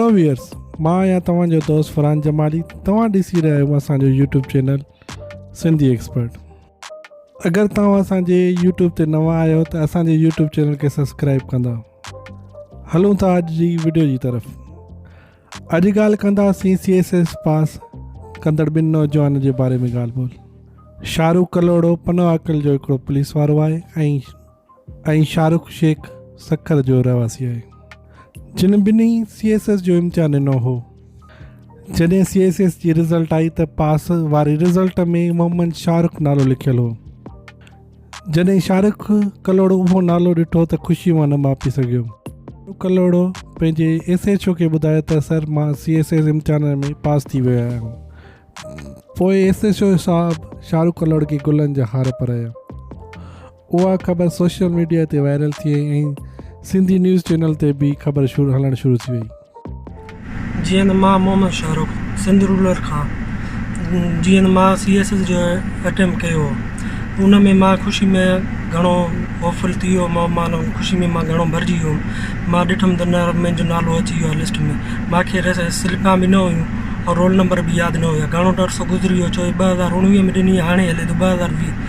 Hello viewers مان آهيان توهان جو دوست فرحان جمالي توهان ڏسي رهيا آهيو اسان جو يوٽيوب چينل سنڌي ايڪسپرٽ اگر توهان اسان جي يوٽيوب تي نوان آهيو ته اسان جي يوٽيوب چينل کي سبسڪرائب ڪندا هلون ٿا اڄ جي ويڊيو جي طرف اڄ ڳالهه ڪنداسين سي ايس ايس پاس ڪندڙ ٻن نوجوان جي باري ۾ ڳالهه ٻولهه شاهه رخ ڪلهوڙو پنو عاقل جو هڪڙو پوليس وارو آهي ۽ ۽ شاهه رخ شيخ سکر جو رهواسي آهي جن ٻنهي سي ايس ايس جو امتحان ڏنو هو جڏهن سي ايس ايس جي رزلٽ آئي ته پاس واري رزلٽ ۾ محمد شاهه رخ نالو لکيل هو جڏهن شاهه رخ ڪلوڙو اهو نالو ڏٺو ته خوشي مان نه ماپي سگهيو ڪلوڙو پنهنجي ايس ايچ او کي ٻڌايو ته سر مان سي ايس ايس امتحان ۾ پاس ٿي ويو آهيان پوء ايس ايچ او صاحب شاهه رخ ڪلوڙ کي گلن جا هار پرايا اها خبر سوشل ميڊيا تي وائرل ٿي وئي ۽ سنڌي نيوز چينل تي به خبر هلڻ شروع ٿي وئي. جيئن ته مان محمد شاهه رخ سنڌ رولر کان جيئن ته مان سي ايس ايس جو اٽيمپ ڪيو هو ان ۾ مان خوشي ۾ گهڻو هوفل ٿي ويو هوم مان خوشي ۾ مان گهڻو ڀرجي ويو هوم مان ڏٺم ته نه منهنجو نالو اچي ويو آهي لسٽ ۾ مان کي سلپان به نه هيون ۽ رول نمبر به ياد نه هيا گهڻو عرصو گذري ويو ڇو جو ٻه هزار اڻويهه ۾ ڏني هاڻي هلي ٿو ٻه هزار ويهه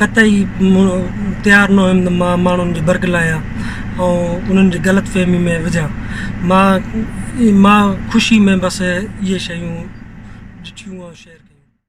قطعي تيار نه هيم ته مان ماڻهن جي برغلايان ۽ انهن جي غلط فهمي ۾ وجهان مان مان خوشي ۾ بس اهي شيون ڏٺيون ۽ شيئر ڪيون